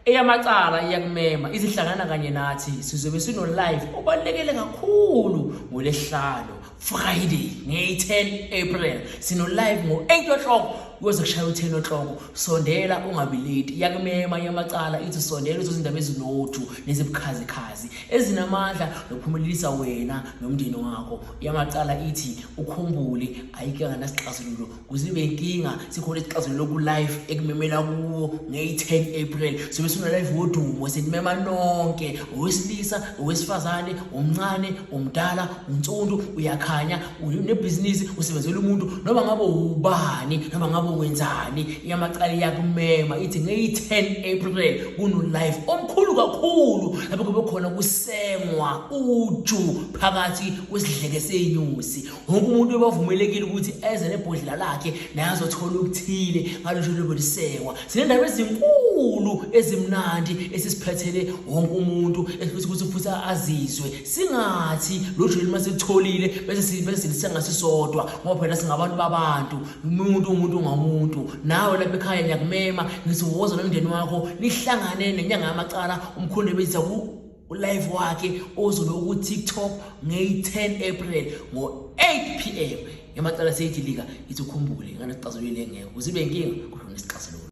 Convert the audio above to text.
eyamacala iyakumema izihlangana kanye nathi sizobe sino-live obalulekele kakhulu ngolesihlalo friday ngeyi-10 april sino-live ngo-8 o'clock kuyoze kushaya u-10 o'clock sondela ungabi late iyakumema yamacala ithi sondela uzozindaba ezinothu nezibukhazikhazi ezinamandla nokuphumelelisa wena nomndeni wakho yamacala ithi ukhumbule ayike nganasixazululo kuzibe inkinga sikhona isixazululo ku-live ekumemela kuwo ngeyi-10 april sobe suna-live wodumo senimema nonke owesilisa owesifazane umncane umdala unsundu uyakhanya unebhizinisi usebenzela umuntu noma ngabe ubani noma ngabe wenzani iyamacala iyakumema ithi ngeyi-10 april kuno-live omkhulu kakhulu lapho kube khona kusengwa uju phakathi kwesidleke senyusi wonke umuntu ubavumelekile ukuthi eze nebhodlela lakhe naye azothola okuthile ngalosho lobolisekwa sinendaba ezinkulu ezimnandi esisiphethele wonke umuntu esifuthi ukuthi futhi azizwe singathi lo joli uma sikutholile bese sisengasisodwa ngoba phela singabantu babantu umuntu umuntu ngamuntu nawe lapha ekhaya ngiyakumema ngisiwoza nomndeni wakho nihlangane nenyanga yamacala umkhonde bezisa ulive wakhe ozobe ku-tiktok ngeyi-10 april ngo-8 p m emacala seyidilika ithi ukhumbule nganasixazulule ngeke uzibe nkinga kodwa nesixazululo